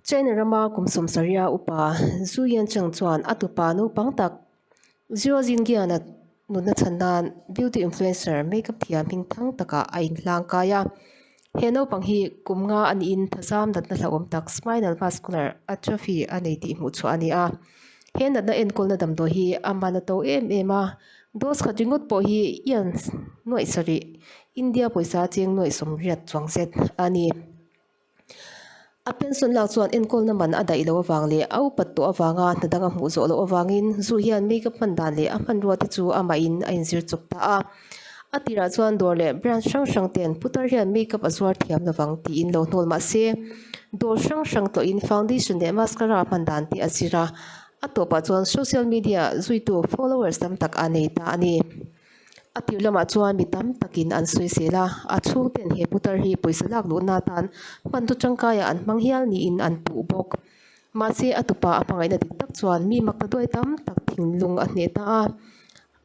China rama kum sawmsarih a upa Zhu Yancheng chuan a tupa naupang tak Zero Zingiana nutna chhan nan beauty influencer makeup thiam hming thang taka a in hlang kai a. He naupang hi kum nga a ni in thazam natna hlauhawm tak, spinal muscular atrophy, a nei tih hmuh chhuah a ni a. He natna enkawlna damdawi hi a man a to em em a. Dose khat ringawt pawh hi ian nuaihsarih India pawisa a cheng nuaih sawm riat chuang zet a ni. A pension lak chuan enkawlna man a daih loh avang leh a upat tawh avanga hna dang a hmuh zawh loh avangin zu hian makeup hman dan leh a hmanrua te chu amah in a inzir chawp ta a. A tirah chuan dawr leh brand hrang hrang ten putar hian makeup a zuar thiam lovang tiin lo hnawl mahse dawr hrang hrang tawhin foundation leh mascara hman dan te a zir a. A tawpah chuan social media zuitu followers tam tak a nei ta a ni. A piu lamah chuan mi tam takin an sawi sel a, a chhung ten he putar hi pawisa lak luh na atan hmantu tangkaia an hmang hial niin an puh bawk. Mahse a tupa a hmangaihna dik tak chuan mi makna duai tam tak thinlung a hneh ta a.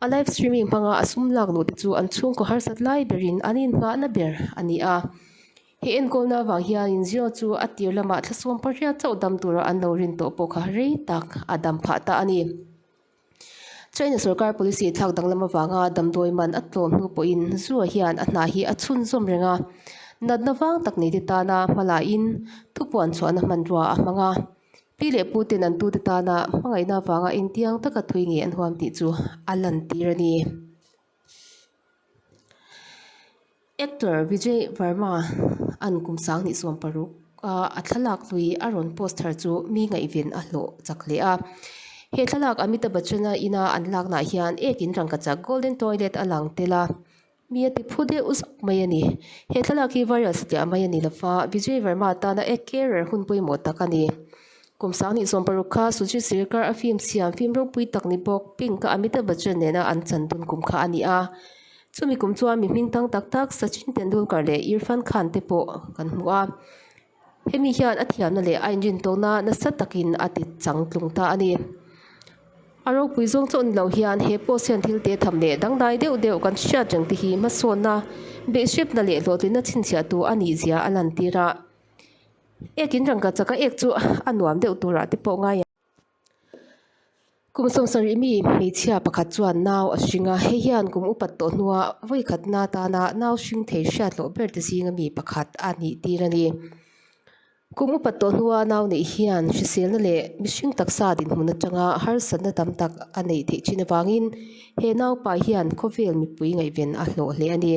A live streaming hmanga a sum lak luh te chu an chhungkaw harsat lai berin an inhngahna ber a ni a. He enkawlna vang hianin Zio chu a tir lamah thlasawm pariat chauh dam tura an lo rin tawh pawh kha rei tak a dam phah ta a ni. China sorkar policy thlak danglam avanga damdawi man a tlawm hnu pawhin Zhuo hian a hna hi a chhunzawm reng a, natna vang tak neite tana hmalahin thupuan chhuahna hmanrua a hmang a. Pi leh Puten an tute tana hmangaihna avanga engtiang taka thui nge an huam tih chu a lantir a ni. Actor Vijay Varma an kum sang nihsawm paruk a a thlalak lui a rawn post thar chu mi ngaihven a hlawh chak leh a. He thlalak Amitabh Bachchan-a ina an laknaah hian ekin rangkachak Golden Toilet a lang tel a. Mi a tiphu deuh zak mai a ni. He thlalak hi viral si teh mai a ni lova Vijay Varma atana eker ber hun pawimawh tak a ni. Kum sangni zawm paruk kha Sujit Sirkar a film siam film ropui tak ni bawk Pink ka Amitabh Bachchan nena an chan dun kum kha a ni a. Chumi kum chuan mi hming tang tak tak Sachin Tendulkar leh Irfan Khan te pawh kan hmu a. Hemi hian a thiamna leh a inrin tawkna nasa takin a ti chang tlung ta a ni. A ropui zawng chauh ni lo hian he post hian thil te tham leh dangdai deuh deuh kan hriat reng te hi hmasawnna, beihhrepna leh hlawhtlinna chhinchhiahtu a ni zia a lantir a. Ekin rangka chaka ek chu a nuam deuh turah te pawh ngai ang. Kum sawm sarih mi hmeichhia pakhat chuan nau a hring a, hei hian kum upat tawh hnua vawi khatna atana nau hring thei hriat loh ber te zinga mi pakhat a nih tir a ni. Kum upat tawh hnua nau neih hian hriselna leh mihring taksa dinhmun atanga harsatna tam tak a neih theih thin avangin he naupa hian khawvel mipui ngaihven a hlawh hle a ni.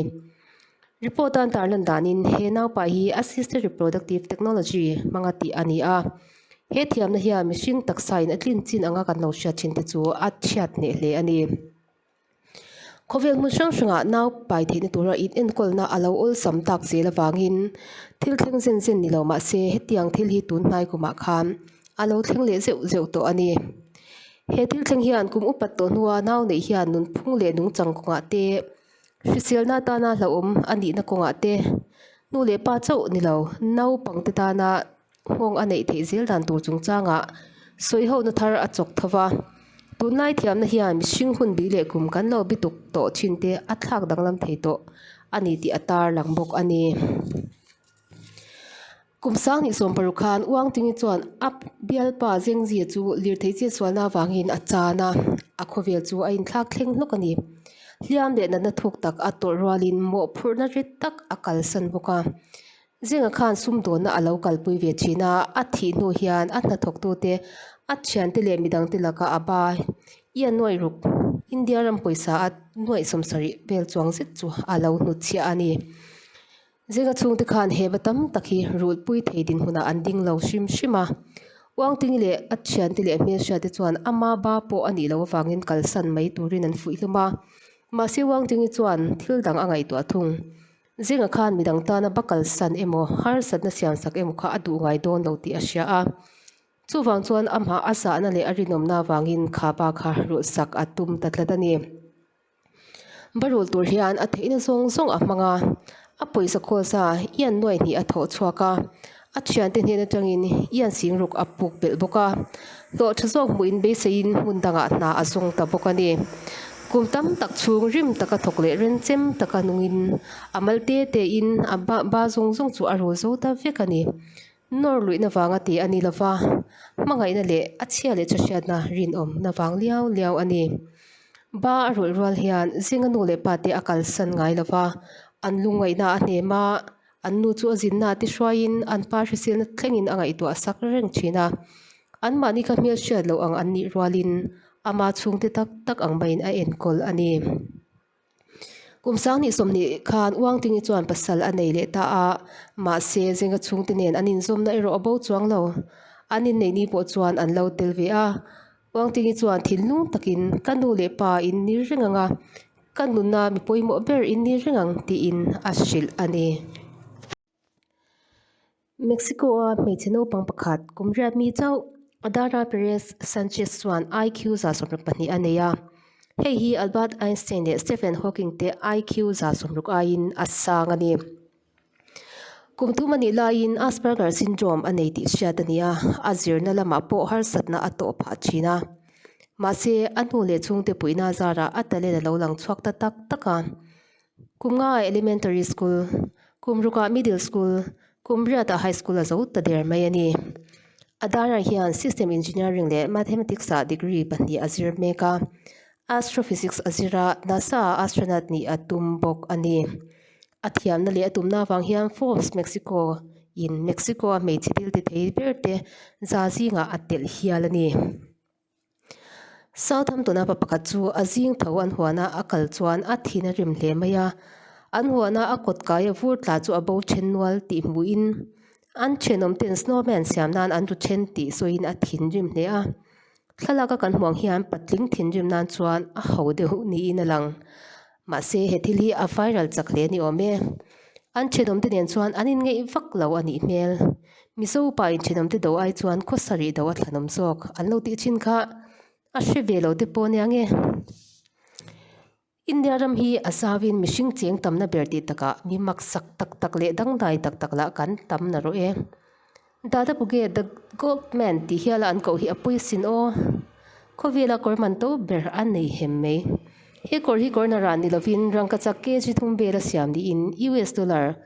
Report a antar lan danin he naupa hi Assisted Reproductive Technology hmanga tih a ni a. He thiamna hian mihring taksain a tlin chin anga kan lo hriat thinte chu a chhiat hneh hle a ni. Khawvel hmun hrang hrangah nau pai theihna tura inenkawl-na a lo awlsam tak zel avangin thil thleng zen zen ni lo mahse hetiang thil hi tun hnai kumah khan a lo thleng leh zeuh zeuh tawh a ni. He thil thleng hian kum upat tawh hnua nau neih hian nunphung leh nungchang kawngah te, Hriselna atana hlauhawm a nihna kawngah te, nu leh pa chauh ni lo naupang te tana nghawng a neih theih zel dan tur chungchangah sawi ho na thar a chawk tho va. Tunlai thiamna hian mihring hun bih leh kum kan lo bituk tawh thin te a thlak danglam thei tawh a ni tih a tarlang bawk a ni. Kum Sangni sawmparu khan Uangtingi chuan a bialpa Zengzia chu lirthei chetsualna avangin a chan a, a khawvel chu a inthlak thleng hlawk a ni. Hliam leh natna thuk tak a tawrh rualin mawhphurhna rit tak a kalsan bawk a. Zenga khan sumdawnna a lo kalpui ve thin a, a thih hnu hian a hnathawktute, a thiante leh midangte laka a ba ia nuaih ruk India ram pawisa a nuaih sawmsarih vel chuang zet chu a lo hnutchhiah a ni. Zinga chhungte khan heba tam tak hi rulhpui thei dinhmunah an ding lo hrim hrim a. Uangtingi leh a thiante leh hmelhriate chuan ama ba pawh a nih loh avangin kalsan mai turin an fuih hlum a. Mahse Uangtingi chuan thil dang a ngaihtuah thung. Zinga khan midang tana ba kalsan emaw harsatna siamsak emaw kha a duh ngai dawn lo tih a hria a. Chuvang chuan amah a zahna leh a rinawmna avangin khaba kha rulhsak a tum ta tlat a ni. Barul tur hian a theihna zawng zawng a hmang a, a pawisa kawsa Ian nuai hnih a thawh chhuak a, a thiante hnehna tangin Ian sing ruk a puk belh bawk a. Hlawh tha zawk hmuhin beiseiin hmun dangah hna a zawng ta bawk a ni. Kum tam tak chhung rim taka thawk leh ren chem taka nungin a mal te tein a ba zawng zawng chu a rul zo ta vek a ni. Nawr luihna vanga ti a ni lo va, hmangaihna leh a chhia leh chawhriatna rinawmna vang liau liau a ni. Ba a rawlh rual hian Zinga nu leh pa te a kalsan ngai lo va, an lungngaihna a hnem a, an nu chu a zinna a ti hruaiin an pa hrisilna thlengin a ngaihtuah a sak reng thin a. Anmahni kha hmelhriat loh ang an nih rualin ama chhungte tak tak ang maiin a enkawl a ni. Kum Sangni sawmhnih khan Uangtingi chuan pasal a nei leh ta a, mahse zinga chhungte nen an inzawmna erawh a bo chuang lo. An inneihni pawh chuan an lo tel ve a. Uangtingi chuan thinlung takin, Ka nu leh pa in nir reng ang a, ka nuna mi pawimawh ber in nir reng ang, tiin a hrilh a ni. Mexico-a hmeichhe naupang pakhat kum riat mi chauh Adara Perez Sanchez chuan IQ za sawmruk pahnih a nei a. Hei hi Albert Einstein leh Stephen Hawking te IQ za sawmruk aiin a sang a ni. Kum tum a nih laiin Asperger Syndrome a nei tih hriat a ni a, a zirna lamah pawh harsatna a tawh phah thin a. Mahse, a hnu leh chhungte puihna zarah a talent a lo lang chhuak ta tak tak a. Kumngai Elementary School, Kumruka Middle School, Kumriata High School-a zo ta der mai a ni. A darah hian System Engineering leh Mathematics-ah degree pahnih a zir mek a, Astrophysics a zir a, NASA-ah Astronaut nih a tum bawk a ni. A thiamna leh a tumna avang hian Forbes Mexico-in Mexico-a hmeichhe thil tithei berte za zingah a telh hial a ni. Southampton-a pa pakhat chu a zing tho an huana a kal chuan a thin a rim hle mai a. An huana a kawt kaia vur tla chu a bo then nual tih hmuhin an thenawm ten snowman siam nan an ru then tih sawiin a thin rim hle a. Thlalaka kan hmuh ang hian patling thinrim nan chuan a ho deuh niin a lang. Mahse, he thil hi a viral chak hle ni awm e. An thenawmte nen chuan an inngeih vak lo a nih hmel. Mizo pa in thenawmte do ai chuan khaw sarih do a thlahnawm zawk an lo tih thin kha. A hre ve lo te pawh nia nge. India ram hi a zauin mihring cheng tamna ber tih takah mi maksak tak tak leh dangdai tak tak lah kan tam na rawh e. Dada Buge, The Goatman tih hiala an koh hi a pui sin aw. Khawvela kawr man to ber a nei hem mai. He kawr hi kawrna ran ni lovin rangkachak kg thum bela siam niin US dollar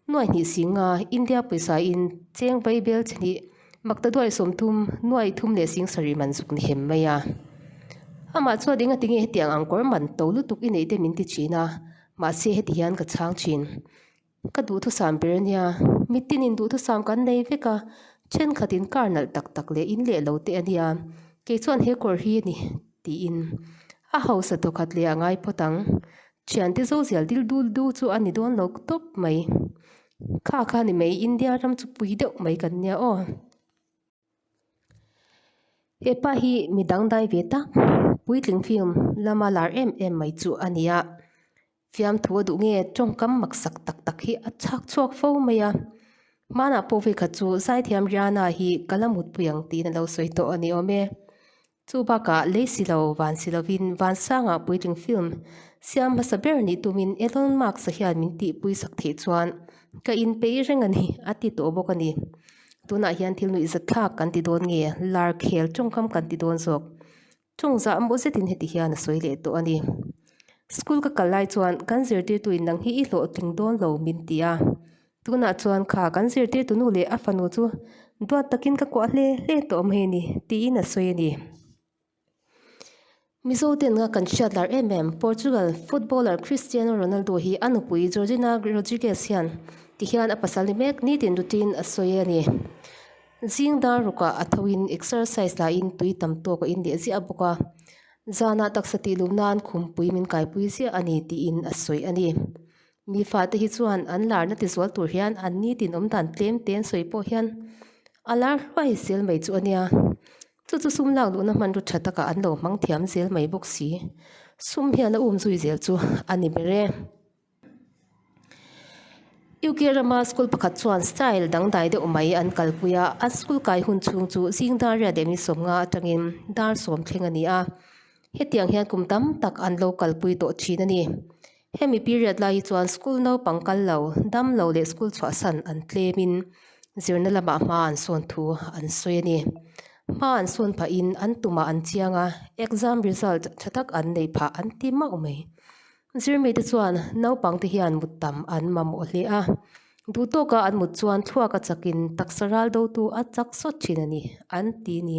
nuai hnih sing nga India pawisa in cheng vai bel che hnih makta duai sawm thum nuai thum leh sing sarih man zuk ni hem mai a. Amah chuan enga tinge hetiang ang kawr man to lutuk i neih te min ti thin a, mahse heti hian ka chhang thin. Ka duhthusam ber nia, mitin in duhthusam kan nei vek a, thenkhat in kar nalh tak tak leh in leh lo te a nia, kei chuan he kawr hi a ni tiin a hausa tawh khat leh a ngai phawt ang, thian te zozial dil dul du chu a ni dawn lo tawp mai, kha kha ni mai India ram chu pui deuh mai kan nia aw. Hepa hi mi dangdai ve tak, puitling fim lama lar em em mai chu a ni a. Fiamthu a duh nge tawngkam maksak tak tak hi a chhak chhuak fo mai a. Hmanah pawh vekhat chu Zaithiam Riana hi ka la mutpui ang tihna lo sawi tawh a ni awm e. Chu bakah lei si lo, van si lovin Vansanga puitling film siam hmasa ber nih tumin Elon Musk-a hian min tihpui sak theih chuan ka inpeih reng a ni, a ti tawh bawk a ni. Tunah hian thil nuihzatthlak kan ti dawn nge, lar khel tawngkam kan ti dawn zawk? Tawngzah maw zetin heti hian a sawi leh tawh a ni. School ka kal lai chuan kan zirtirtu in nang hi i hlawhtling dawn lo min ti a. Tunah chuan kha kan zirtirtunu leh a fanu chu duat takin ka kuah hle hle tawh mai a ni, tiin a sawi a ni. Mizo ten nga kan hriatlar em em, Portugal footballer Cristiano Ronaldo hi a nupui Georgina Rodriguez hian ti hian a pasal ni mek nitin rutin a sawi a ni. Zing dar rukah a thoin exercise lahin tui tam tawk a inleh ziah bawk a, zanah taksa tih luh nan khumpui min kaipui ziah a ni, tiin a sawi a ni. Mi fate hi chuan an larna tizual tur hian an ni tin awm dan tlem te an sawi pawh hian a lar hluai zel mai chu a nia. Chu chu sum lak luhna hmanraw tha takah an lo hmang thiam zel mai bawk si. Sum hian a um zui zel chu a ni ber e. UK rama school pakhat chuan style dangdai deuh mai an kalpui a, a school kai hun chhung chu zingdar riah dehmi sawmnga atangin dar sawm thleng a ni a. Hetiang hian kum tam tak an lo kalpui tawh thin a ni. Hemi period lai hi chuan school naupang kal lo, dam lo leh school chhuah san an tlemin zirna lamah hma an sawn thu an sawi a ni. Hma an sawn phah in an tumah an chiang a, exam result tha tak an neih phah an ti mauh mai. Zirmite chuan naupangte hian muttam an mamawh hle a. Duh tawka an mut chuan thluak a chak in taksa ral do tu a chak sawt thin a ni, an ti ni.